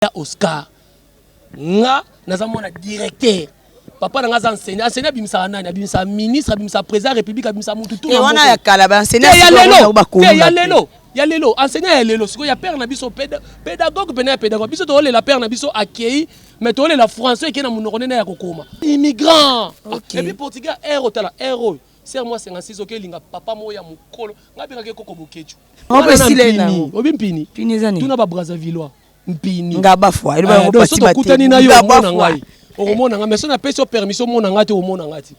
ya Oscar nga naza mwana directeur papa na nga aza enseignant enseignant abimisaka nani abimisaka ministre abimisaka président ya république abimisaka mutu tout eh, wana ya kala ba enseignant ya lelo ya lelo ya lelo enseignant ya lelo sikoyo ya père na biso pédagogue pena ya pédagogue biso tokolela père na biso akei mais tokolela français ekei na monoko nene ya kokoma immigrant okay. epuis portugais aire otala aire oyo ser mwa 56 oke elinga papa moko ya mokolo ngai bengaki ekoko bokecu obi mpini tuna ba brazavillois mpini ngaba fwa eloba eh, yango pati bate tokutani na yo omona ngai okomona ngai mais so napesi yo permission omona ngai te omona ngai te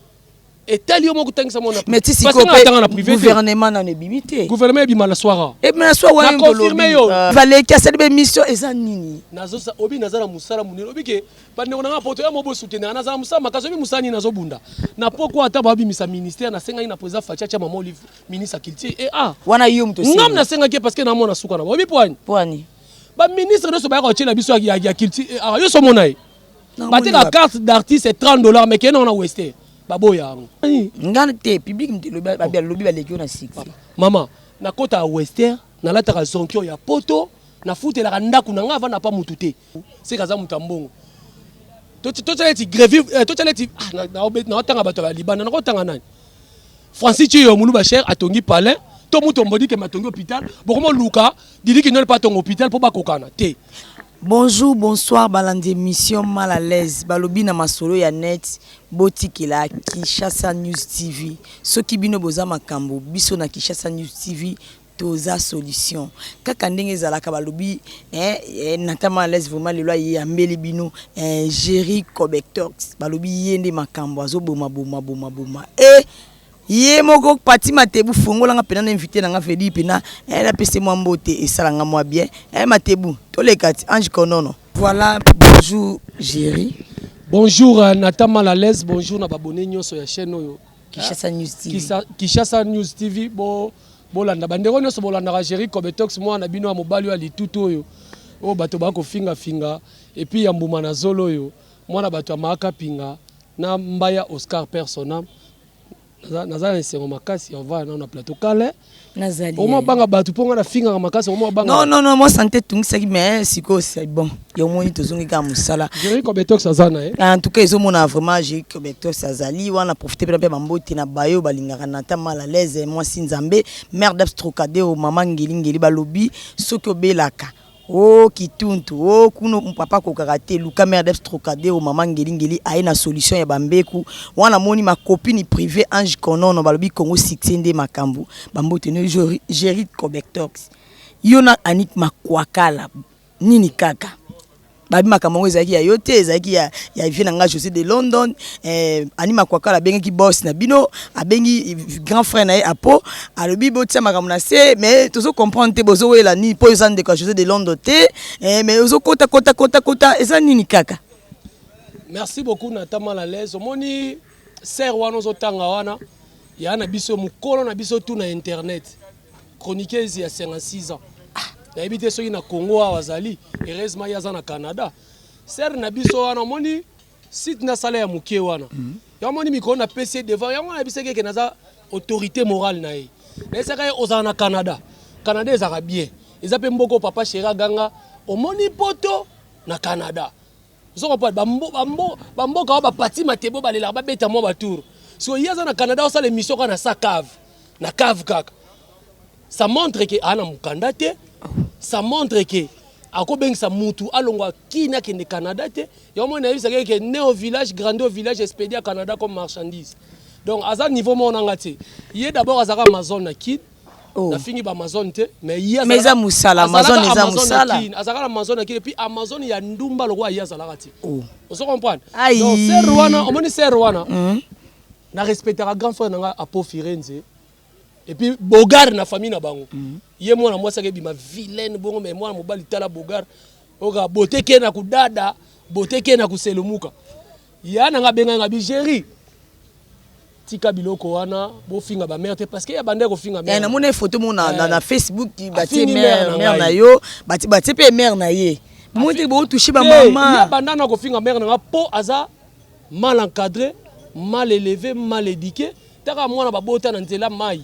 etali yo moko otangisa mona mais ti sikoyotanga na privé gouvernement nano ebimi te gouvernement ebima na soir ebima na soir wana confirme yo euh, valeki asali ba émission eza nini nazosa obi naza na mosala monene obi ke bandeko na nga poto ya mobo soutenir naza na mosala makasi obi mosala nini nazobunda na poko ata babimisa ministère nasengaki na président faci atya mama olive ministre ya culture e a ah. wana yo moto ngam nasengaki parce que namona suka na obi poani poani ba ministre nionso bayaka kotyela biso ya culture eh, awa yonso omona ye bateka carte d'artiste 30 dollars mais kende wana weste baboya yango nga te public lobi baleki yo na succès mama nakotaka wester nalataka zonkio ya poto nafutelaka ndako na ngai avanda pa motu te seka aza moto ya mbongo totyala eti grevi eh, totyala eti ah, naotanga bato ya libanda nakotanga nani francis ciyo muluba cher atongi palais to mutu ombodike matongi hôpital bokoma luka Didi Kinol pa tongo hôpital po bakokana te. Bonjour bonsoir balandi emission mal à l'aise balobi na masolo ya net botikela Kinshasa News TV soki bino boza makambo biso na Kinshasa News TV toza solution kaka ndenge ezalaka balobi eh, eh, nata mal à l'aise vraiment lelo aye ambeli bino eh, Jerry Cobectox balobi ye nde makambo azoboma boma boma boma eh, ye moko pati matebu fongola nga mpena na invité na nga vedi mpena eh, napese mwa mbote esala nga mwa bien eh, matebu toleka ti ange konono voilà bonjour géri bonjour euh, nata mal à l'aise bonjour na babone nyonso ya chaîne oyo kishasa news tv Kisa, kishasa news tv bo bolanda bandeko nyonso bolandaka géri cobetox mwana na bino ya mobali oyo ya litutu oyo oyo bato bakofingafinga epuis ya mbuma na zolo oyo mwana bato ya maaka pinga na mbaya oscar persona naza na esengo makasi ovanda nao na plateau kale nazalioma banga bato mpo ngai nafingaka makasi oma banga non non non mwa sante etungisaki mais sikoyo c'est bon yo omoni tozongi kaka mosala jeri cobetox aza na ye en tout cas ezomona vraiment jeri cobetox azali wana profite mpena mpe bambote na bayo balingaka na ta mal à l'aise mwasi nzambe mère dabs trocadero mama ngelingeli balobi soki obelaka Oh kituntu oh kuna papa akokaka te luka merdes trocadero maman ngeli ngeli aye na solution ya ba mbeku wana moni ma copine privee ange konono balobi congo succès nde makambu ba mbote no gerrit cobectox yo na anik makuakala nini kaka babi makambo yango ezalaki ya yo te ezalaki ya ya vie na nga jose de london eh, ani makuakala abengaki boss na bino abengi grand frère na ye apo alobi botia makambo na se mais tozo comprendre te bozo wela nini mpo eza ndeko ya josé de londres te eh, mais ozo kota kota kota kota eza nini kaka merci beaucoup na tama la laise omoni ser wana ozotanga wana ya na biso mokolo na biso tu na internet chroniqueuse ya 56 ans ah. nayebi te soki na congo awa azali heureusement ye aza na canada ser na biso wana omoni Site na sala ya mukie wana. Yo amoni mikolo na pesi ye devant yango na bisaki ke naza autorité morale na ye. Na esaka ye ozala na Canada. Canada ezaka bien. Eza pe mboko papa chéri aganga omoni poto na Canada. Ozo comprendre ba mbo ba mbo ba mboka ba pati matebo ba lelaka ba beta mwa ba tour. Siko ye aza na Canada osala emission ka na sa cave. Na cave kaka. Ça montre que ana mukanda te. Ça montre que akobengisa mutu alongwa kini akende Canada te. Yo mona yebisa que né au village, grandi au village, expédié à Canada comme marchandise. Donc aza niveau moko nanga te. Ye d'abord azaka Amazon na Kin. Oh. nafingi ba amazon te mais ye mais eza musala amazon eza musala azalaka na amazon na kile puis amazon ya ndumba lokola ye azalaka te oh. ozo comprendre donc serre wana omoni serre wana hmm. na respectaka grand frère na nga apo firenze et puis bogar na famille na bango mm. ye mwana mwasi ake bima vilaine bongo mais mwana mobali tala bogar oka boteke na kudada boteke na kuselumuka ya nanga benga nga bigeri tika biloko wana bofinga ba mère te parce que ya bande ko finga mère eh, na mona photo mona na, na eh. Facebook ba ti mère mère na yo ba ti ba ti pe mère na ye mona te bo toucher ba maman ya banda na ko finga mère na nga po aza mal encadre, mal eleve, mal eduque, taka mwana babota na nzela mayi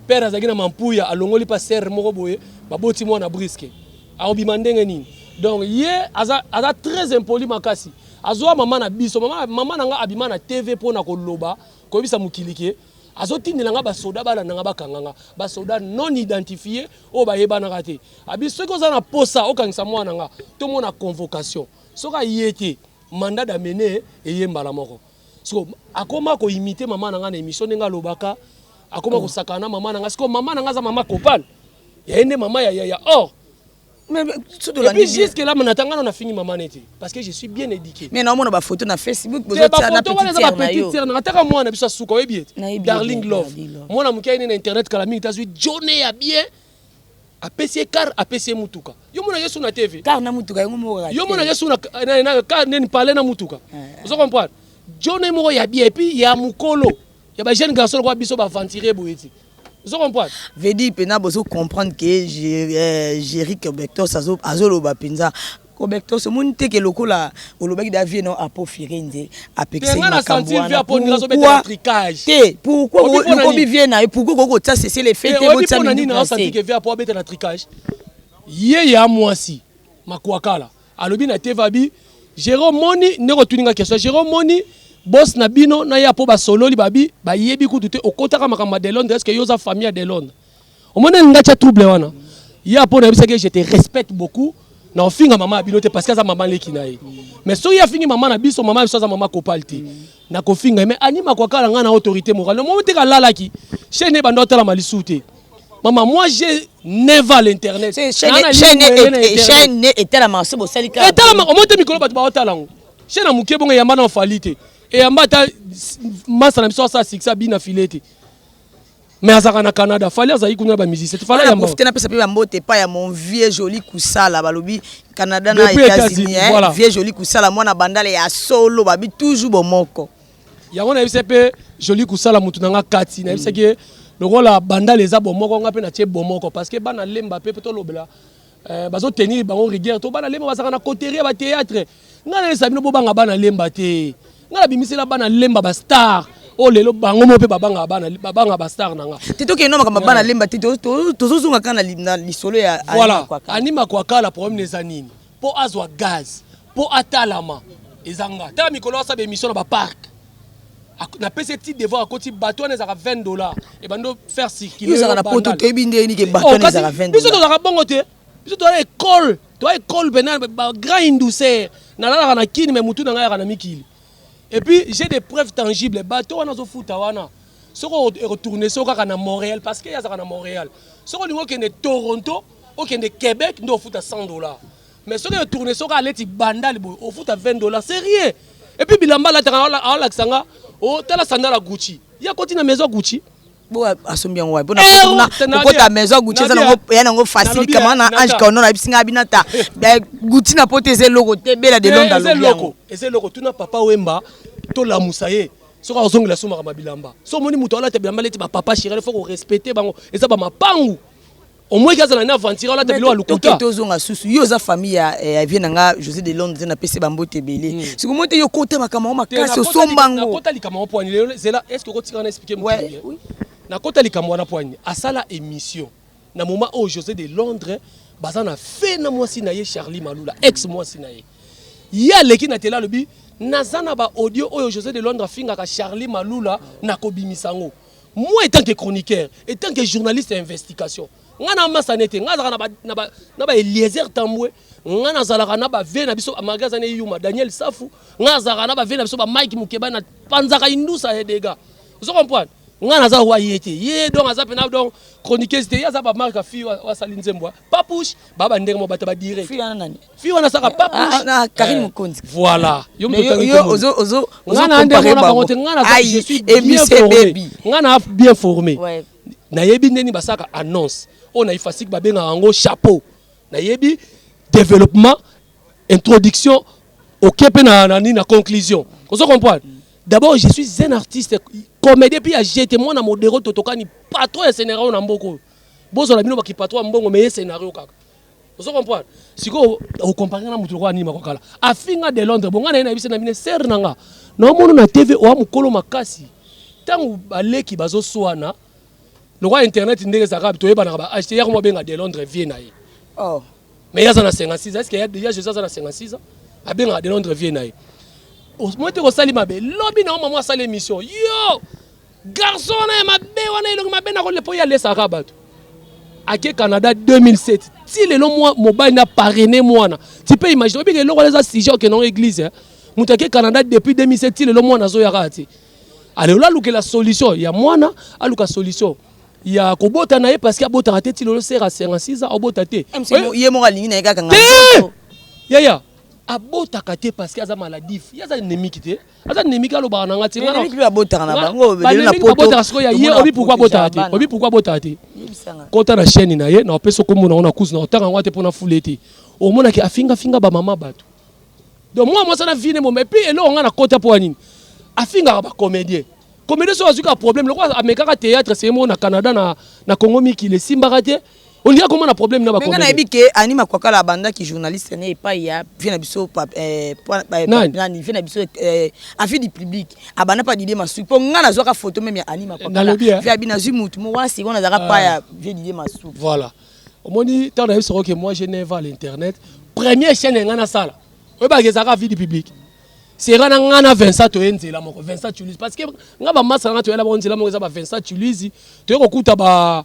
père azalaki na mampuya alongoli pa serre moko boye baboti mwana briske akobima ndenge nini donc ye aza, aza très impoli makasi azwa mama na biso mama, mama na nga abima na tv mpo na koloba koyebisa mokili ke azotindela nga basoda balanda nga bakanga nga basoda non identifie oyo bayebanaka te abi soki oza na posa okangisa mwana nga tomona convocation soki aye te Mandat d'amener eye mbala moko. Sikoyo akoma ko imiter mama na ngai na emission ndenge alobaka, akoma oh. kosakana na mama na ngai. Sikoyo mama na ngai aza mama Copal. Ya ye nde mama ya ya ya or. Oh. Mais tout de la vie. Jusque là, mon attendant, on a fini maman n'était parce que je suis bien éduqué. Mais non, on a photo na Facebook, vous êtes na petite sœur na yo. Na ataka moi na biso suka oyebi. Darling Love. Moi na mukai na internet kala mingi tazui Johnny ya bien. apesi ye car apesi ye mutuka yo mona yesu na tv car na mutuka yango moko kaka yo mona yesu na na, na car neni pale na mutuka eh, eh. ozo comprendre jone moko ya bien epi ya mukolo ya ba jeune garçon kwa biso ba aventurier boye ti ozo comprendre vedi pena bozo comprendre que eh, Jerick Bectos azo azo loba penza Kobektos omoni te ke lokola olobaki deja vie nao apo firenze apekisa ye makambu wana pourquoi te pourquoi lokobi vie nayo pourquoi okoki kotia cessez le feu te botia minute na se ye ya mwasi makuakala alobi na te vabi jere omoni ndenge otuni nga question jere omoni bos na bino na ya po basololi babi bayebi kutu te okotaka makambo ya delondre eske yo oza famille ya delondre omoni alinga tya trouble wana ye apo nayebisaki ye je te respecte beaucoup na ofinga mama ya bino te parce que aza mama leki na ye mais soki afingi mama na biso mama biso aza mama kopal te na kofinga mais anima kwakala ngai na autorité morale omoni te kalalaki chaine ebanda otalama lisusu te mama moi j'ai neva l'internet chaine etalama se bosali kaka etalama omoni te mikolo bato baotala yango chaine ya moke bongo eyamba na ofali te eyamba ata masa na biso asala sikisa bina file te mais azalaka na canada fali azali kuna ba musicien fali ya profite napesa mpe bambote epai ya mon vieux joli kusala balobi canada na états-unis eh, voilà. vieux joli kusala mwana bandala ya solo babi toujours bomoko yango nayebisa mpe joli kusala motu na nga kati nayebisaki mm. lokola bandala eza bomoko nga mpe natie bomoko parce que bana lemba mpe mpe tolobela Eh, bazo tenir bango rigueur to bana lemba bazaka na coterie ba théâtre ngai nayesa bino bobanga bana lemba te ngai nabimisela bana lemba ba star oyo oh, lelo bango moko mpe babanga bana babanga ba star na nga te tokende makambo bana lemba te tozozonga kaka na lisolo ya voilà anima kwakala problème eza nini mpo azwa gaz po atalama eza nga tala mikolo asaba émission na ba parc napesi ye ti devoir akoti bato wana ezalaka 20 dollar ebandi faire circuleozalaka na poto toyebi nde yeni ke bato wana ezalaka 20 biso tozalaka bongo te biso toza ekole toza ekole mpena bagrand indusere nalalaka na kini me motu na ngai yaka na mikili epuis j'ai des preuves tangible bato wana azofuta wana soko ekotourne so kaka na montréal parce que ye azalaka na montréal soko olingi okende toronto okende québec nde ofuta 100 dollar Mais soki yo tourner soki aleti bandal boye ofuta 20 dollars c'est rien. Et puis bilamba alataka aolakisa nga oh tala sandal ya Gucci. Ya koti na maison Gucci. Bo asombi yango wapi? Bona eh, oh, koti na kota maison Gucci eza nango ya nango facile kama na eh, Ange Kaono na bisi nga binata. Eh, Gucci na pote eza eloko te bela de Londres. Eza eloko. Eza eloko tuna papa Wemba to lamusa ye. soki azongela somaka mabilamba so omoni moto alata bilamba leti bapapa chirel fo korespecte bango eza bamapangu au moins kaza na aventure olata biloko ya lokuta to zonga susu yo za famille ya eh, vie na nga José de Londres na pese bambo te belé hmm. siko mote yo kota makama makasi osomba ngo na kota likama wa poani lelo zela est-ce que kotika na expliquer mo bien na kota likama wana poani asala émission na moment au José de Londres baza na fe na mwasi na ye Charlie Malula ex mwasi na ye ye aleki na tela alobi naza na ba audio oyo José de Londres afingaka Charlie Malula na kobimisa ngo moi etant que chroniqueur etant que journaliste ya investigation ngai na masana ete ngai azalaka na ba eliezer tambwe ngai nazalaka na bave na biso malgre aza na eyuma daniel safu ngai azalaka na bave na biso bamike mokeba na panzaka indusa ya dega ozo comprendre ngai naza wa ye te ye donc aza mpena donc chroniqueuse te ye aza bamarke afi oyo asali nzembo papouche ba ba ndenge mo bato ba dire fi wana nani fi wana saka ah, papouche ah, ah, Karine eh, Mokonzi voilà yo mtu tani yo ozo ozo ozo comparer ba ngote ngana za je suis bien formé ngana bien formé nayebi ndeni basaka annonce oyo na ifasiki babengaka yango chapeau nayebi développement introduction oke mpe na, na, na conclusion ozo comprendre d'abord je suis un artiste comédien mpe ya jete mwana modero totokani patron ya senera oyo na mboka oyo Bozo la bino ba kipatoa mbongo mais scenario kaka. Ozo comprendre? Siko o comparer na mutu kwa nini makokala. Afinga de Londres bonga na yena yebisa na bine sœur nanga. Na omono na TV oa mukolo makasi. Tangu baleki bazo swana. Lokwa internet ndenge zaka to yeba na ba acheter yako mo benga de Londres vie na ye. Oh. Mais yaza na 56 est-ce que ya déjà Jésus aza na 56 ans? Abenga de Londres vie na ye. Moi te ko sali mabe. Lobi na maman asali émission. Yo! Garçon wana ya mabe wana elongi mabe na kolepo ya lesaka bato. Ake Canada 2007. Ti lelo mwa mobali na parrainer mwana. Tu peux imaginer obi eloko eza sujet au non église. Hein? Mutu ake Canada depuis 2007 ti lelo mwana zo yaka ti. Alors là lukela solution ya mwana aluka solution. ya kobota na ye parce que abotaka te ti lelo sera 56 ans abota te ye moko alingi na ye kaka ngai yaya abotaka te parce que aza maladif ye aza endemiki te aza nemiki alobaka na nga te abotaka na bango abotaka sikoyo ya ye obi pourkui abotaka te obi pourkui abotaka te kota na chaîne na ye na opesi okombo na ngo na kuzu na otanga yango te mpo na fule te omonaki afingafinga bamama bato donc mwa mwasi na vie ne moma epuis eloko ngai na kota mpo ya nini afingaka bacomédien comédien soki azwi kaka problème lokola amekaka théâtre seye moko na canada na congo mikili esimbaka te olingi akoma na problème na bakomenga nayebi ke ani makwakala abandaki journaliste ne epai ya vie na biso eh, eh, nani vie na biso eh, avis du public abanda pa didie masuki mpo ngai nazwaka photo meme ya ani makwakala vie abi nazwi motu mo wana sikoyo nazalaka ah. pa ya vie didie masuki voilà omoni ntango nayebi soko ke moi je ne va à l'internet première chaîne ya ngai nasala oyebaka ezalaka vie du public sera na ngai na vincent toye nzela moko vincent tulise parce que ngai bamasa na ngai toyela bango nzela moko eza ba vincent tulise toye kokuta ba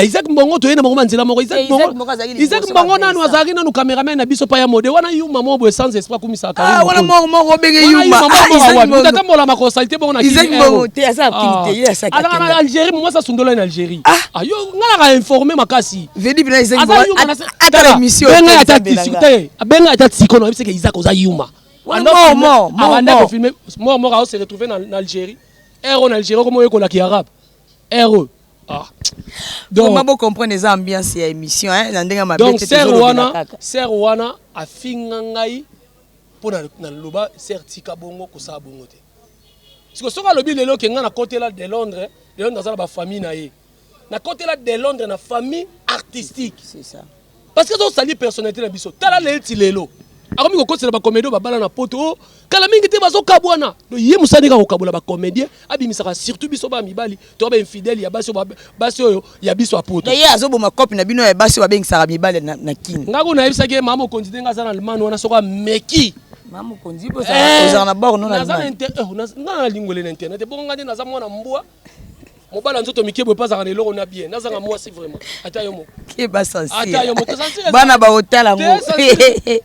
isaac mbongo toye na bango banzela moko isaac eh, mbongo nanu azalaki nanu cameraman na biso pa ya mode wana yuma moko boye sans esprit akumisaka ah, wana moko moko obenge yumatambola ah, makosalite bongo na eh, oh. ah, algérie momwasi asundolani na algérie yo ngai naka informe makasi Vedi bina izengi aza yuma na ata la mission benga ya tati sikute benga ya tati sikono yebise ke Isaac oza yuma wana mo mo mo abanda ko filmer mo mo ka se retrouver na Algérie ero na Algérie ko mo yekola ki arabe ero ah donc ma bo comprendre eza ambiance ya émission hein na ndenge mabe donc sœur wana sœur wana afinga ngai mpo na loba sœur tika bongo kosala bongo te siko soki alobi lelo ke ngai nakotela de londres de londres aza na bafamille na ye nakotela de londres na famille artistique parce que azosali personnalité na biso tala leti lelo akomi kokosela bacomédien babala na poto o oh, kala mingi te bazokabwana do ye mosani kaka kokabola bacomédien abimisaka surtout biso bana mibali to bainfidèle ya basi basi oyo ya biso ya poto ye azoboma cope na bino ya basi oyo babengisaka mibali na kini ngai kuna nayebisaki ye mama mokonzi ndenge aza na allemagne wana soko ameki mama mokonzi ozala na bor no na eh, allemagne ngai na lingwele na internet ebongo ngai nde naza mwana mbwa mobala nzoto mike boye pazaka na eloko na bien nazanga mwasi vraiment ata yo moko keba sensible ata yo moko sensible bana ba otala ngo eh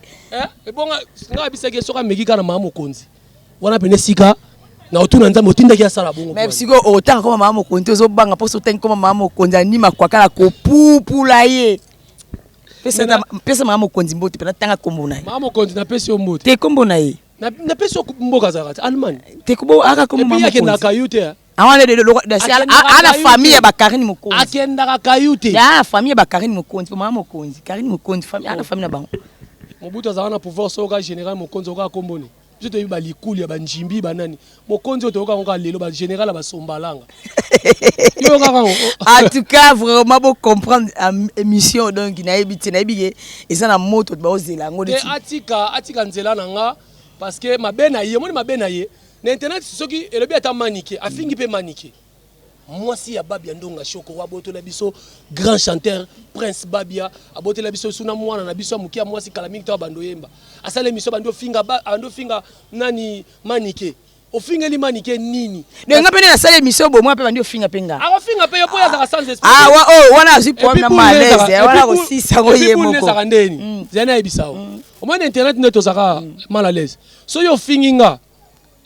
ebonga nga bisaki soka ameki kana mama mokonzi wana pene sika na otuna nzambe otindaki asala bongo mais sikoyo otanga koma mama mokonzi ozobanga mposo otangi koma mama mokonzi anima kwakala kopupula ye pesa mama mokonzi mbote mpe natanga nkombo na ye mama mokonzi napesi yo mbote te nkombo na ye na pesi yo mboka azalaka te allemagne te kubo aka komo mama yake na kayu te ah. awana de loko de si ana famille ya bakarine mokonzi akendaka kayu te ya famille ya bakarine mokonzi mama mokonzi karine mokonzi famille ana famille na bango mobutu azalaka na pouvoir soka général mokonzi oka komboni biso toyebi balikuli ya banjimbi banani Bokonzi oyo toyoka yango kaka lelo ba general ya basombalanga. Yo kaka yango. en tout cas vraiment bo comprendre euh, émission donc nayebi te nayebi ke eza na moto baozela yango Te neti atika atika nzela na nga parce que mabe na ye omoni mabe na ye na internet soki elobi ata manike afingi mpe manike. Mwasi ya Babia Ndonga Shoko abotola biso grand chanteur Prince Babia abotola biso suna mwana na biso ya moke ya mwasi kala mingi to abando yemba asala emission bando finga bando finga nani manike ofingeli manike nini donc nga pene nasala emission bo mwa pe bandi ofinga pe nga akofinga pe yo po yazaka sans esprit ah wa oh wana azui problème na malaise eh, wana ko sisa ko ye moko ezaka ndeni mm. zana yebisa o mm. omoni internet nde tozaka mm. mal à l'aise so yo ofingi nga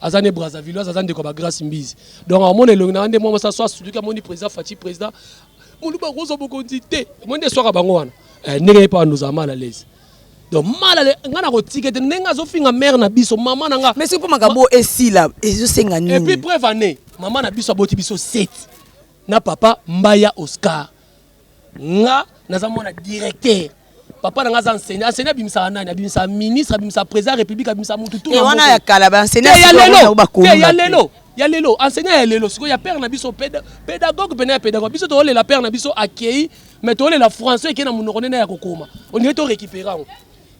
aza ne Brazzavilloise aza ndeko ba Grace Mbizi donc amona elongi na nde mwa mosa so asuluki amoni président Fatshi président moluba akozwa bokonzi te omoni nde eswaka bango wana eh, ndenge ye mpe andozala mal à l'aise donc malale nga na kotika ete ndenge azofinga mare na biso mama na nga mais soki mpo makambo esila ezosenga nini epuis preuve année mama na biso aboti biso seti na papa mbaya oscar Nga naza mwana directeur. Papa na nga aza enseignant. Enseignant abimisaka nani? Abimisaka ministre, abimisaka président ya république, abimisaka mutu tout na moko. Wana ya kala ba enseignant ya lelo. Te ya lelo. Ya lelo enseignant ya lelo sikoyo ya père na biso pédagogue pena ya pédagogue biso tolela père na biso akei mais tolela français ekei na monoko nene ya kokoma on dirait to récupérer yango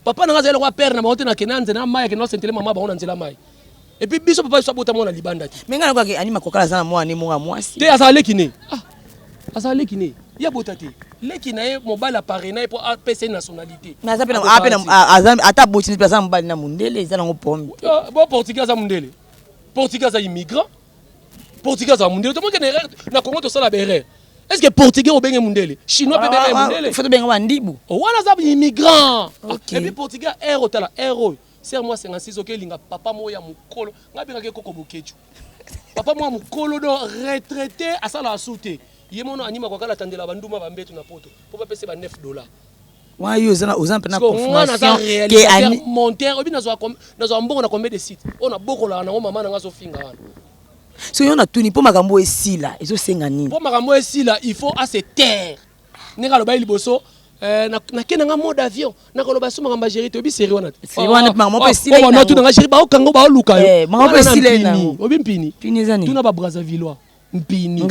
papa na nga azali lokola père na bango te na kena nzela mayi akenda osentele mama bango na nzela mayi Et puis biso papa biso abota mwana libanda te. Mais ngana kwaki anima kokala zana mwana ne mwana mwasi. Te azala leki ne. Ah. Azala leki ne. Ya bota te. Leki na ye mobali aparena ye po apesa ye nationalité. Mais aza pe na ape na aza ata boti ne aza mobali na mundele eza nango pombe. Ah, bo portugais aza mundele. Portugais aza immigrant. Portugais aza mundele. Tomoke na erreur na Congo to sala berre. Est-ce que portugais obenge mundele? Chinois pe benge mundele. Faut benga wa ndibu. Wana za immigrant. Et puis portugais air otala air oyo. Serre moi 56 oke linga papa moko ya mukolo nga bengaka ye koko boketshu papa moko ya mukolo do retraite asala asu te ye mono anima kwa kala tandela ba nduma ba mbetu na poto po ba pese ba 9 dollars wana yo oza na oza mpe na confirmation ke ani monteur obi nazwa nazwa mbongo na combien de sites oyo nabokolaka nango mama na nga azofinga wana so yo natuni mpo makambo esila ezosenga nini mpo makambo esila il faut ase taire ndenge alobaki liboso eh, nake nanga mode avion nakoloba so makambo ya géri toyebi seri wana tewanatu nanga géri baokanga baoluka yoyobi mpini tuna babrazavillois mpini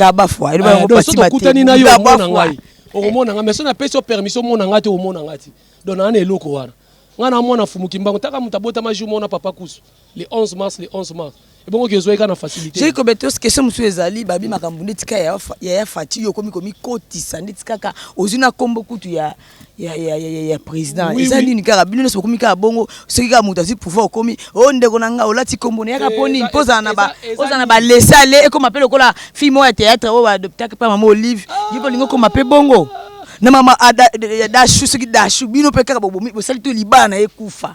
tokutani na yo omona ngai okomona ngai mais so napesi yo permission omona ngai te omona ngai te donc naa na eloko wana ngai namona fumuki mbango taka moto abotama jour mona papa kusu le 11 mars le 11 mars ebongo ke ezwaki kaka na facilité jeki kobetos question mosusu ezali babi makambo nde tika ya ya faci yo okomi komikotisa nde tikaka ozwi na nkombo kutu ya ya, ya, ya, ya, ya président oui, eza oui. nini kaka bino nyonso bokomi kaka bongo soki kaka moto azwi pouvoir okomi o oh, ndeko na ngai olati nkombo na yaka mpo nini mpo ozala na ba ozala na balese ale ekoma mpe lokola fille moko ya théâtre oyo baadoptaki mpe mama olive ah. yo bolingi okoma mpe bongo na mama ah, dashu soki dashu bino mpe kaka bosali to libala na ye kufa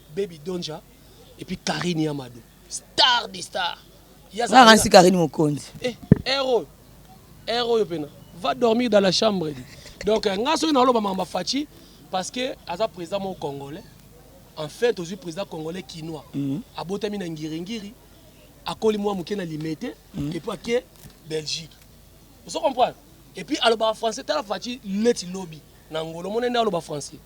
Baby Donja et puis Karine Yamado. Star des stars. Yaza Ransi Karine Mokonzi. Eh, héros. Héros yo pena. Va dormir dans la chambre. Donc euh, nga soki naloba mamba Fatshi parce que aza président mon congolais. En fait, ozui président congolais kinois. Mm -hmm. Abotami na ngiringiri. Akoli mwa moke na limete mm -hmm. et puis ake Belgique. Vous comprenez? Et puis aloba français tala Fatshi leti lobi. Na ngolo monene aloba français.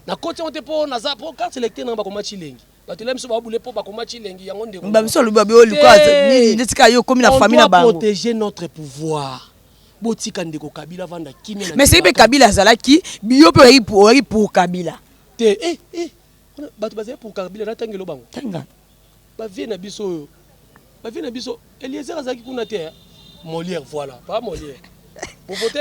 Na koti yango te po naza po carte electeur na nga bakoma Tshilengi. Bato elai biso babule po bakoma Tshilengi yango ndeko. Ba biso alobi babe oliko nini ndeti ka yo komi na famille na bango. On doit protéger notre pouvoir. Botika ndeko Kabila vanda kimia na. Mais c'est Kabila azalaki biyo pe oyi pour Kabila. Te eh eh bato bazali pour Kabila na tangelo bango. Tanga. Ba vieux na biso oyo ba vieux na biso eliezer azalaki kuna te hein Molière voilà papa Molière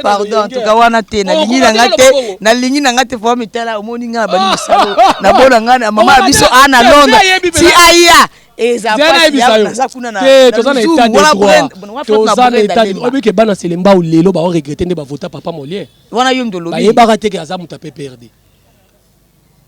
pardon en tout cas wana te oh, nalingi na nga te nalingi na nga te fo mitala omoni nga na bani mosalo na bona nga na mama ya biso ana londres ti aya eza kuna na toza na état de droit toza na état de droit obike bana selembao lelo ba regretter nde ba vota papa Molière wana yo ndolobi bayebaka te ke aza muta PPRD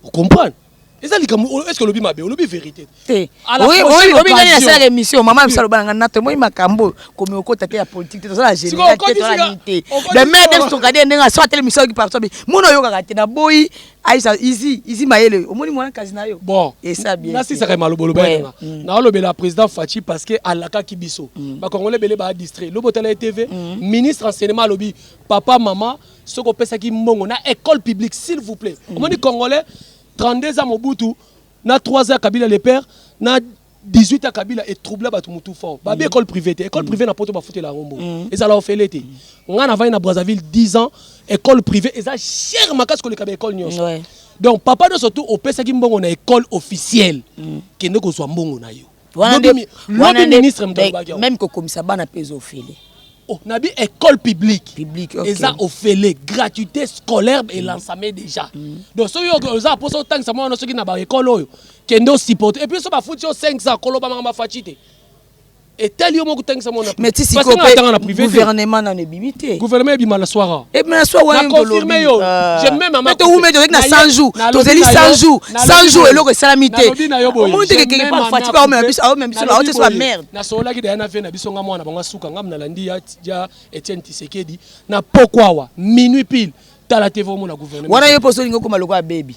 okomprane eza likambo oyo eske olobi mabe olobi verité te oyebi nani nasalaka émission mama ya biso aloba na ngai nato emoyi makambo oyo komi okota te ya politike te tozala général te tozala nini te le maire de sokade ndenge aso atele misio yoki partout mona oyokaka te naboyi aisa izi izi mayele omoni mwana kasi na yo bon esa bien nasisaka maloba oloba yanga mm. naolobela président faci parce que alakaki biso mm. bakongole ebele ba distrait lobi otala ye tv mm. ministre enseignement alobi papa mama soki opesaki mbongo na école publique s'il vous plaît mm. omoni congolais 32 ans mobutu na 3 ans kabila le père na 18 ans kabila etroubla bato motu fort babi mm. école privée te école mm. privée na poto bafutela yango mbongo mm. ezala ofele te ngai navandi na brazzaville 10 ans école privée eza cher makasi koleka ba école nyonso donc papa nyonso tu opesaki mbongo na école officielle kende kozwa mbongo na yo meme kokomisa bana mpe eza ofele oh, na bi école publique publique okay. eza ofele gratuité scolaire mm. elansame déjà mm. donc soki oza mposa otangisa mwana soki na baekole oyo kende osupporte epuis so bafuti yo 500 koloba makambo afaci te etali yo moko otangisa mwana mais ti sikoyo mpe gouvernement nano gouvernement ebima na soir confirme yo mais towumeli tozalaki na 100 jours tozali 100 jours 100 jours eloko esalami te omoni te kekeke pa fati pa omema biso aomema biso na oteso ya merde nasololaki daya na vie na biso nga mwana bango asuka ngam nalandi ya etienne tisekedi na pokwawa minuit pile tala te vomona gouvernement wana yo mpo osolingi okoma lokola bebi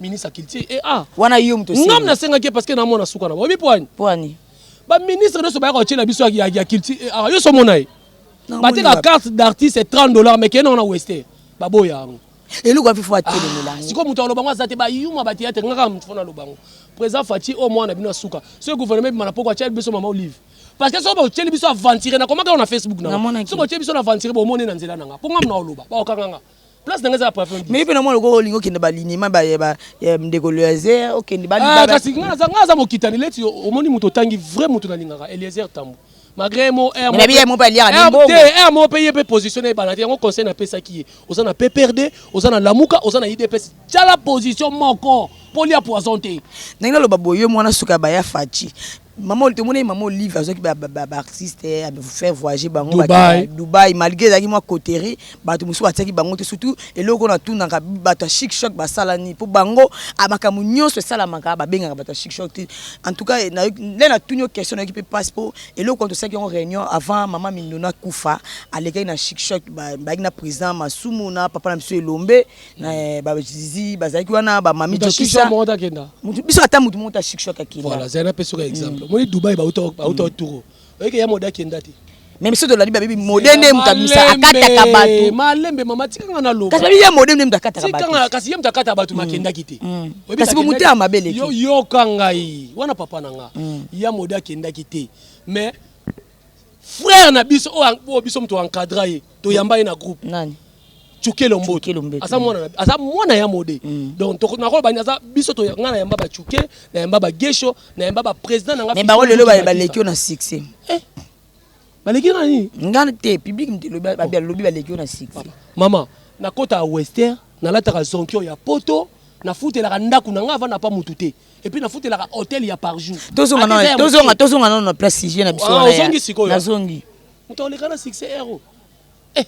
ministre ya culture e a wana yo moto ngam nasengaki ye parceke namona suka na boyebi poani poani baministre nyonso bayaka kotyela biso ya culture e a yo somona ye bateka carte d'artiste 30 dollar mais kende wana weste baboya yango eloko ya fifo atelemela ah, sikoyo moto aloba yango aza te bayuma bateyatre ngaka moto fona aloba yango président faci oyo mwana bino asuka soki gouvernement ebima na poko atyeli biso mama olive parce que soki botyeli biso aventire nakomaka yo na facebook na soki botyeli biso na aventire bomoni na nzela na nga mpo ngamna oloba baokanga nga place na ngai eza pavillon 10 mais pe na mwa lokola olingi okende balinema ya ndeko loiser okende ah, kasi ngai naza mokitani leti omoni moto otangi vrai moto nalingaka eliezer tambo malgré mo eh, eh, mo mpe ye mpe position na ebala te yango conseil napesaki ye oza na pprd oza na lamuka oza na idps tyala position moko mpo lia poison te ndenge naloba boye mwana suka ya baya faci Maman tomonaki maman Olive azwaki ba ba ba artiste a faire voyager bango ba Dubaï. kende Dubaï malgré ezalaki mwa coterie bato mosusu batiaki bango te surtout eloko oyo natunaka bato ya chic choc basala nini mpo bango a makambo nyonso esalamaka babengaka bato ya chic choc te en tout cas nayoki nde natuni yo question nayoki mpe mpasi mpo eloko wana tosalaki yango réunion avant maman Mignon akufa alekaki na chic choc ba- bayaki na président Masumu na papa na biso Elombe Eh, ba zizi bazalaki wana ba mami jokisa moko takenda mutu biso ata mutu moko ta succès kakenda voilà zali na peso ka exemple mm. moni dubai ba uta ba uta mm. turo oyeke ya moda kenda te meme soki tolandi babebi mode nde moto abimisa akataka bato malembe mama tikanga na loba kasi babi ye mode nde moto akataka bato kasi ye moto akataka bato mm. makendaki te mm. kasi bomotema mabe leki yoka ngai wana papa na nga mm. ya mode akendaki te mais frère na biso oyo biso moto encadra ye toyamba ye na groupe nani cukelo mboto aza mwana aza mwana ya mode mm. donc nakoloba nini aza biso ngai nayamba bacuke nayamba bagesho nayamba baprésident nanga bango lelo baleki yo na succès eh, baleki na nini ngai te public lobi baleki yo na succès mama nakota ya wester nalataka zonkio ya poto nafutelaka ndako na ngai avanda pa motu te et puis nafutelaka hotel ya par jour tozonga na tozonga tozonga na na place sujet na biso ah, wana ozongi sikoyo nazongi moto oleka na succès ero eh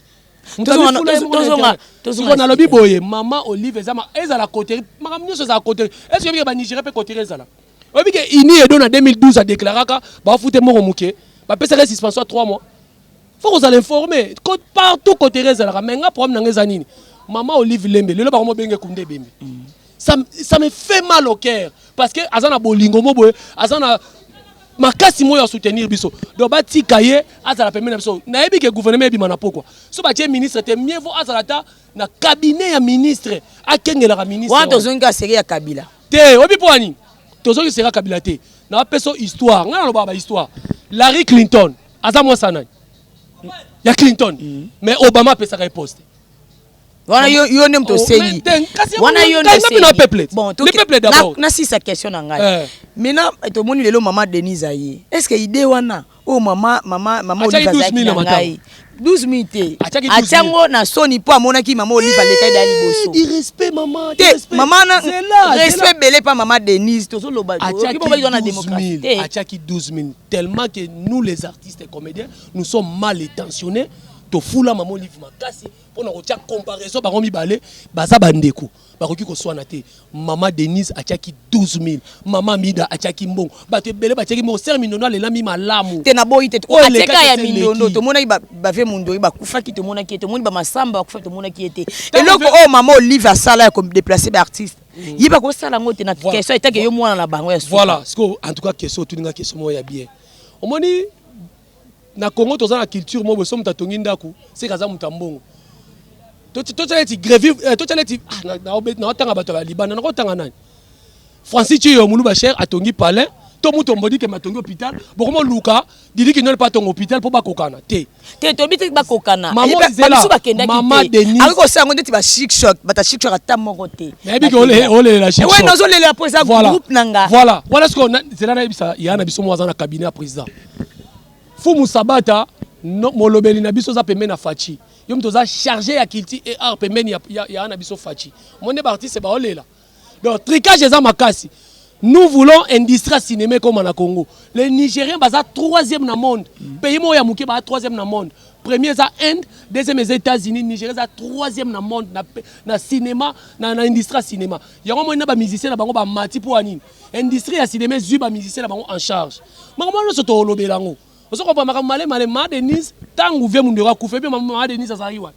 tozonga tozonga nalobi boye mama olive eza ezala coterie makambo nyonso ezala coterie est ce que yebike banigeria mpe coterie ezala oyebike ini edo na 2012 adeklaraka bafute moko moke bapesaka suspension ya 3 mois faut kozala informe partout kotere ezalaka mais nga problème nanga eza nini mama olive lembe lelo bango mobenge kunde ebembe mm. ça, ça me fait mal au cœur parce que aza na bolingo mo boye aza na makasi moyo ya soutenir biso donc batika ye azala pembeni na biso nayebi ke gouvernement ebima na pokwa so batie ministre te mieux vaut azala ata na cabinet ya ministre akengelaka ministre wana tozongi ka seri ya kabila te oyebi mpo ya nini tozongi seri ya kabila te napesa histoire ngai nalobaka bahistoire larry clinton aza mwasi ya nani ya clinton mm. mais obama apesaka ye poste wana yo yo nde moto osengi wana yo nasisa question na ngai eh. maintenant tomoni lelo mama denise aye est ce que idée wana oyo oh, mama mama mama olive azalaki na ngai 12 minutes te atya yango na soni mpo amonaki mama olive aleka eda liboso te mama na respect ebele mpa mama denise tozoloba na démocratie te atyaki 12 minutes tellement que nous les artistes comediens nous sommes mal étensionnés tofula mama olive makasi mpo na kotya comparaison bango mibale baza bandeko bakoki koswana te mama denise atyaki 12000 mama mida atyaki mbongo bato ebele batyaki mbongo ser mindondo alelami malamu te naboyi te ateka ya mindondo tomonaki bave mondoi bakufaki tomonaki ye tomoni bamasamba bakufaki tomonaki ye te eloko oyo mama olive asala ya kodeplace baartiste mm. ye bakosala yango te na question etake yo mwana na bango ya suka voilà sikoyo en tout cas question otuni nga question moko ya bien omoni na congo toza na culture moko boso moto atongi ndako seke aza moto ya mbongo totya neti grevi eh, totya neti ah, naotanga bato ya libanda nakotanga nani francis ciyo moluba cher atongi palais to moto ombodike matongi hôpital bokoma luka Didi Kinol pa tongo hôpital po bakokana te. Te toyebi te bakokana. Bamisu bakendaki te. Akoki kosala yango ndeti ba chic choc, bata chic choc ata moko te. Nayebi ke olelela chic choc. Oui, nazolelela po eza groupe na nga. Voilà, voilà ce qu'on a. Zela nayebisa ya na biso moko aza na cabinet ya président. Fumu Sabata, molobeli na biso aza pembeni na Fatshi. Yo moto oza chargé ya culture et art pembeni ya na biso Fatshi. Omoni nde ba artiste baolela. Donc tricage eza makasi. Nous voulons industrie cinéma comme na Congo. Les Nigériens baza troisième na monde. Mm. Pays mo ya muke ba troisième na monde. Premier eza Inde, deuxième eza États-Unis, Nigeria eza troisième na monde na na cinéma, na, na industrie cinéma. Yango mo na ba musiciens na bango ba mati pour anine. Industrie ya cinéma zui ba musiciens na bango en charge. Makambo nyonso tolobela yango. Ozo comprendre makambo male male ma Denise tangu vie mundu akufa epe maman Denise azali wapi?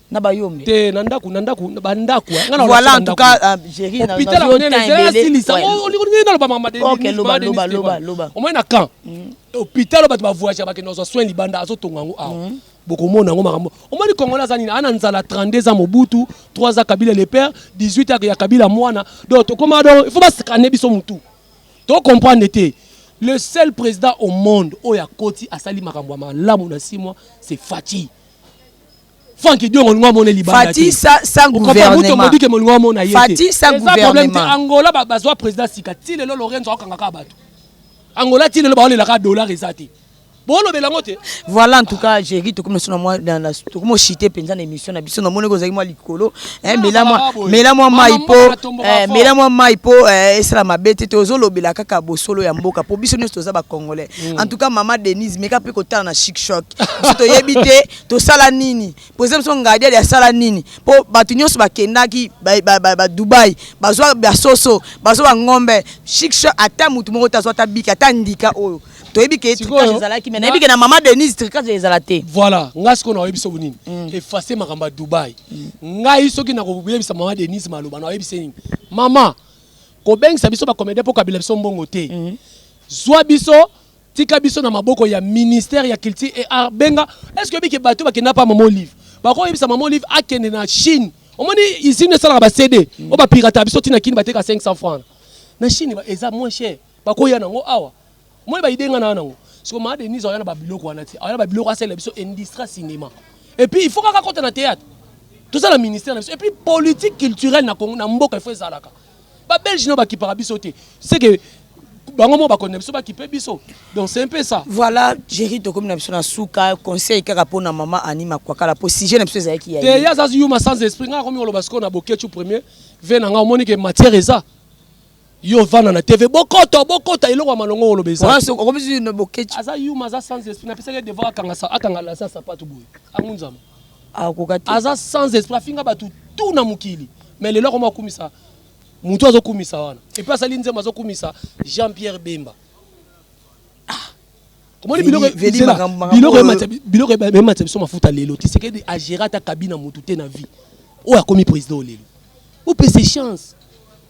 na bayombe te na ndako na ndako ba ndako nga na voilà en tout cas euh, Jerry na hôpital on est là silisa on est dans le bama de OK loba loba loba loba au moins na camp mm. hôpital ba ba voyage ba que nos soins libanda azo tonga ngo awa mm. bokomona yango makambo omoni kongola aza nini ana nzala 32 ans mobutu 3 ans kabila le père 18 ans ya kabila mwana donc tokoma donc il faut bascane biso mutu to comprendre te le seul président au monde oyo akoti asali makambo ya malamu na 6 mois c'est Fatih Franck Diongo olingo amona libanda Fatih sa sa gouvernement Mutu ke molingo amona yete Fatih sa gouvernement Angola ba bazwa président sika ti lelo Lorenzo akanga ka bato Angola ti lelo ba olela ka dollar eza te bolobela ngo te voilà en tout cas jerry tokomi na sona mwa tokomi ochite mpenza na émission na biso namonaki ozalaki mwa likolo eh, mela mwa mai mpo eh, mela mwa mai mpo eh, esala mabe te tozolobela kaka bosolo ya mboka mpo biso nyonso toza bacongolais mm. en tout cas mama denise meka mpe kotala na chic choc biso toyebi te tosala nini president biso ngadiali asala nini mpo bato nyonso bakendaki badubai bazwa basoso bazwa bangombe chikshe ata motu moko te azwa ata biki ata ndika oyo toyebi ke tricage ezalaki me nayebi ke na mama denise tricage ezala te voilà ngai sikoyo naoyebi soki nini mm. efase makambo ya dubai mm. ngai soki nakoyebisa mama denise maloba naoyebisa nini mama kobengisa biso bakomede mpo kabila biso mbongo te mm. zwa biso Tika biso na maboko ya ministère ya culture et art benga est-ce que bike bato bakenda pa maman olive bako yebisa maman olive akende na Chine omoni usine esalaka ba CD mm. oba pirata biso tina kini bateka 500 francs na Chine eza moins cher bako ya nango awa moi ba idenga na nango siko ma Denise ayana ba biloko wana ti ayana ba biloko asala biso industrie cinéma et puis il faut kaka kota na théâtre tout ça la ministère et puis politique culturelle na Congo na mboka il faut ezalaka ba belge no bakipaka biso te seke bango moko bakonde biso bakipe biso donc c'est un peu ça voilà jerry tokomi na biso na suka conseil kaka mpo na mama ani makwakala mpo sujet na biso ezalaki ya te ye aza yuma sans esprit ngai akomi koloba sikoyo na bokechu premier ve na ngai omoni ke matière eza yo vanda na tv bokota bokota eloko ya malongo oloba eza wana soki okomi susu na bokechi aza yuma aza sans esprit napesaki ye devoir akanga sa- akanga lasa sapato boye angunzama akoka te aza sans esprit afinga batu tout na mokili mais lelo akoma akumisa mutu azokumisa wana epe asali nzembo azokumisa jean pierre bemba omoni biloko ematisa biso mafuta lelo tisekedi agera ata kabi na mutu te na vie oyo akomi président oyo lelo opese chance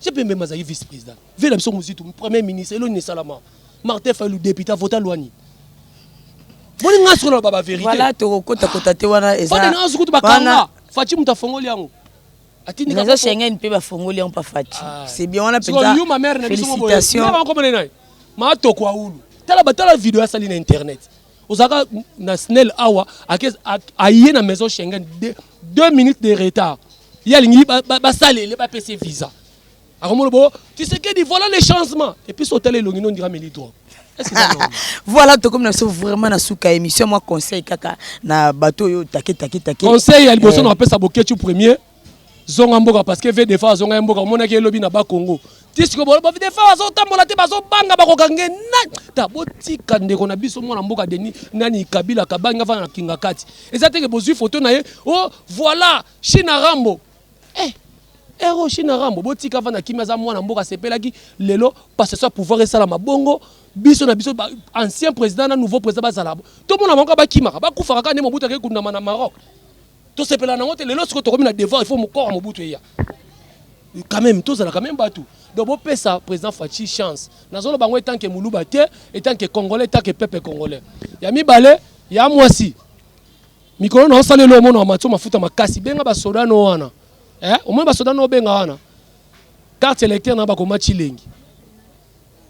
jean pierre bemba azali vice président Vie na biso muzitu, premier ministre, elo nini esalama? Martin Fayulu depute avota loi nini? Boni nga solo ba ba verite. Voilà toko kota kota te wana eza. Boni nga sukutu bakanga. Fachi mutu afongoli yango. Atindi ka. Nazo Schengen mpe bafongoli yango pa Fachi. Ah. C'est bien wana penza. Yo ma mère na biso moko. Félicitations. Nga ko mona nai. Ma toko aulu. Tala ba tala video asali na internet. Ozaka na Snell awa ake aye na maison Schengen 2 minutes de retard. Yalingi ba ba salele ba pese visa. akomona bo tisekedi voilà le changement epuis so otala elongi no ndira meli drogue voilà tokomi na biso vraiment na suka émission mwa conseil kaka na bato oyo take take take conseil ya liboso eh. na bapesa boketchu premier zonga mboka parce que vdfa azonga ye mboka omonaki elobi na bakongo ti sikoyo vdfa azotambola te bazobanga bakokange na ta botika ndeko na biso mwana mboka deni nani kabila kabangi afana na kinga kati eza teke bozwi foto na ye o oh, voilà china rambo Eh, Hero China Rambo, botika avanda kimia, aza mwana mboka, asepelaki lelo passation ya pouvoir esalama bongo biso na biso ba ancien président na nouveau président bazala tomona bango bakimaka bakufaka kaka nde Mobutu akei kundama na Maroc tosepela nango te lelo sikoyo tokomi na devoir il faut mokora Mobutu eya quand même tozala quand même bato donc bopesa président Fatshi chance nazoloba yango etant que muluba te etant que congolais etant que peuple congolais ya mibale ya mwasi Mikolo na osala elo omona matso mafuta makasi benga ba soda no wana. Eh, omona ba soda no benga wana. Carte électeur na bakoma chilengi.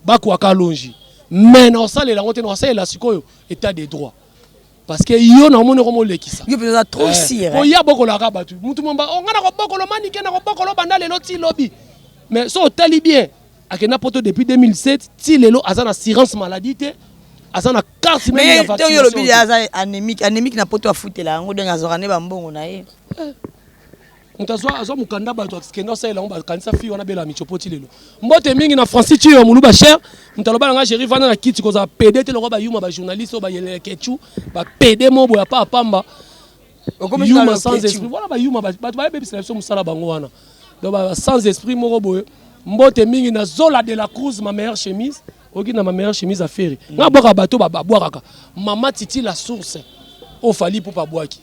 Bakwa kalonji. Mais na osala elango te na osala la sikoyo état de droit. Parce que yo na omona komo lekisa. Yo peza trop sire. Eh, oya bokola ka batu. Mutu momba ongana oh, ko bokolo manike na ko bokolo banda lelo ti lobi. Mais so otali bien Akenda poto depuis 2007 ti lelo aza na assurance maladie te aza na carte meme ya vaccination. Mais yo lobi aza anémique, anémique na poto afutela yango donc azora ne ba mbongo na ye. Eh. moto azwa azwa mokanda bato akende asalela yango bakanisa fille wana bela michopoti lelo mbote mingi na francis tiyo ya moluba cher moto aloba na ngai géri vanda na kiti kozala pede te lokola bayuma bajournaliste oyo bayelele kechu bapede moboya pa apamba okomi yuma sans esprit voilà ba yuma bato ba bebisa biso musala bango wana donc ba sans esprit moko boye mbote mingi na zola de la cruz ma meilleure chemise oki na ma meilleure chemise à ferre mm. nga bwaka bato ba bwaka mama titi la source o fali pupa bwaki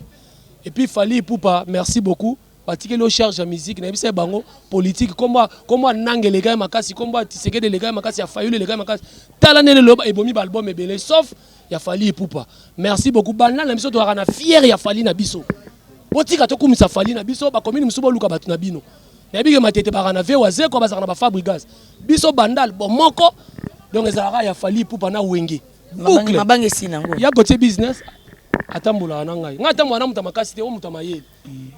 et puis fali pupa merci beaucoup batikeli yo charge ya musique nayebisa ye bango politike nkombo ananga eleka ye makasi nkombo atisekede eleka ye makasi ya fayulu eleka ye makasi tala ndene loba ebomi baalbum ebele sauf ya Fally Ipupa. Merci beaucoup. Banda na biso tozalaka na fier ya Fally na biso. Botika tokumisa Fally na biso, ba commune mosusu boluka bato na bino. Nayebi ke matete baka na Vewa Zeko bazalaka na ba Fabrigas. Biso bandal bomoko donc ezalaka ya Fally Ipupa na Wenge. Boucle. Mabange si nango. Ya gotie business atambolaka na ngai ngai atambola na moto ya makasi te o moto ya mayele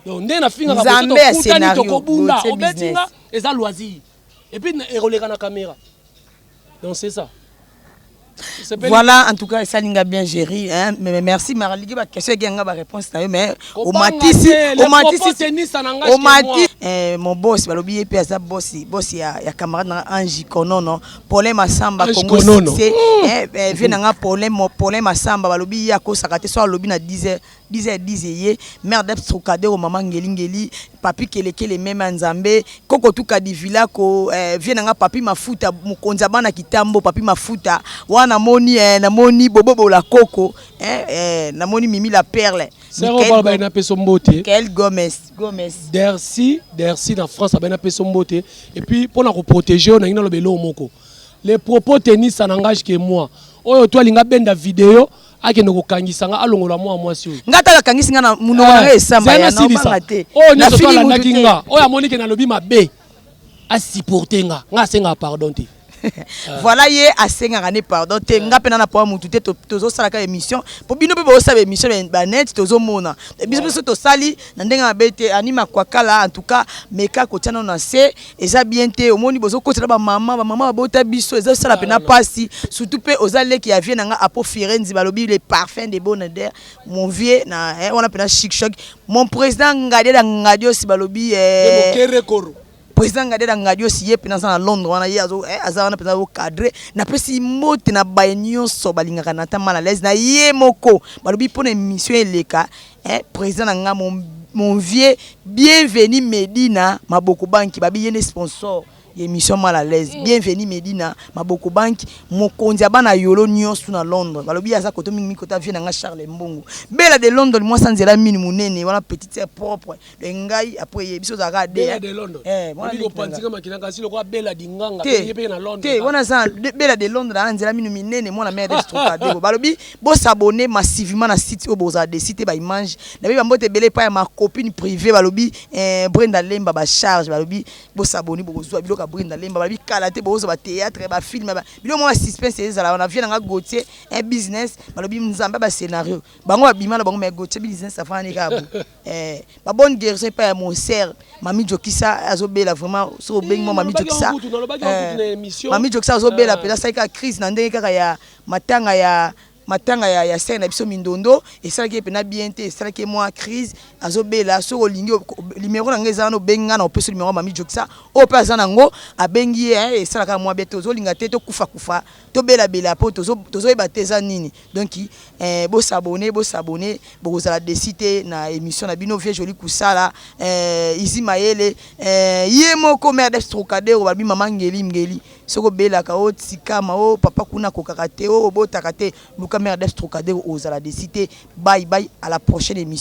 donc nde nafingaka tokutani tokobunda obeti nga eza loisir epuis ekoleka na kamera Donc c'est ça. Voilà, en tout cas, ça linga bien gérer. Hein? Mais merci, Maraligue, ma question est ma réponse. Mais au matisi, au matisi, au matisi. Eh, mon boss, balobi epe aza boss, boss ya ya camarade na Angie Konono, Paulin Masamba Kongo c'est eh, eh vieux nanga Paulin, Paulin Masamba balobi ya ko sakate so alobi na 10h. Dize ya dize ye mère d'eps trocadero maman ngeli ngeli papy kelekele meme ya nzambe koko tuka divilako eh, vieux na nga papy mafuta mokonzi ya bana kitambo papy mafuta wana namoni eh, namoni bobo bola koko eh, eh, namoni mimi la perle Sero Michael bala Go- baina peso mbote. Michael Gomez Gomez Dersi, Dersi na France abena peso mbote et puis pona ko protéger na ngina lobelo moko. Les propos tennis ça n'engage que moi. Oyo toi linga benda vidéo akende kokangisa nga alongola mwa mwasi oyo nga tala kangisi nga na munoko na nga esamba ya nabanga te oyo nyonso to alandaki nga oyo amoni ke nalobi mabe asupporte nga nga asengaka pardon te voilà ye asengaka ne pardon te nga mpe na na poa mutu te tozosalaka émission mpo bino mpe bozosala émission ya banete tozomona biso biso tosali na ndenge mabe te ani makwakala en tout cas meka kotia nano na se eza bien te omoni bozo kotela ba mama ba mama babota biso eza sala pena pasi surtout pe oza leki ya vie na nga apo firenzi balobi le parfum de bonader mon vieux na eh, wana pena chic choc mon président ngadela ngadiosi balobi eh, président ngadela ngadiosi ye pena aza na londres wana ye azo eh, aza wana pena ocadre napesi mbote na baye nyonso balingaka na ta mal à l'aise na ye moko balobi mpona émission eleka Eh, président na nga mon, mon vieux bienvenu Medina Maboko Banki babi yene sponsor l'émission mal à l'aise mm. bienvenue Medina maboko banki mokonzi ya bana yolo nyonso na Londres balobi aza koto mingi mingi kota vie na nga Charles Mbongo bela de Londres mwasi anzela mini munene wana petite sœur propre de ngai après ye biso ozalaka de bela de londres eh wana ndiko panzika makina kasi lokola bela di nganga te ye pe na londres te wana za bela de londres na nzela minu minene mwana mère de stroka de balobi bo s'abonner massivement na site oyo boza de site ba image na bi bambote bele pa ya ma copine privée balobi eh Brenda Lemba ba charge balobi bo s'abonner boko zwa biloka Brenda Lemba balobi kala te bozo ba théâtre ba film ba bilo mwa suspense ezala wana vieux na nga Gauthier un business balobi nzamba ba scenario bango ba bima na bango mais Gauthier business afana ne ka Eh ba bonne guerison epa ya mon sœur Mami Jokisa azo bela vraiment so obengi mwa Mami Jokisa eh, Mami Jokisa azo bela ah. mpenza salika crise na ndenge kaka ya matanga ya matanga ya, ya sere na biso mindondo esalaki ye mpena bien te esalaki ye mwa crise azobela soki olingi limero na ngai eza wana obengi ngai na opesi limero ya mami jokisa oyo mpe aza nango abengi ye esalaka mwa bien te ozolinga te tokufakufa To bela bela po tozo tozo yeba te eza nini donc eh bo s'abonner bo s'abonner boko zala deçu te na emission na bino vieux Joly Kusala eh Izi Mayele eh ye moko mère des Trocadero ba lobi maman Ngeli Ngeli soki obelaka o tika ma o papa kuna akokaka te o obotaka te luka mère des Trocadero ozala deçu te bye bye à la prochaine emission.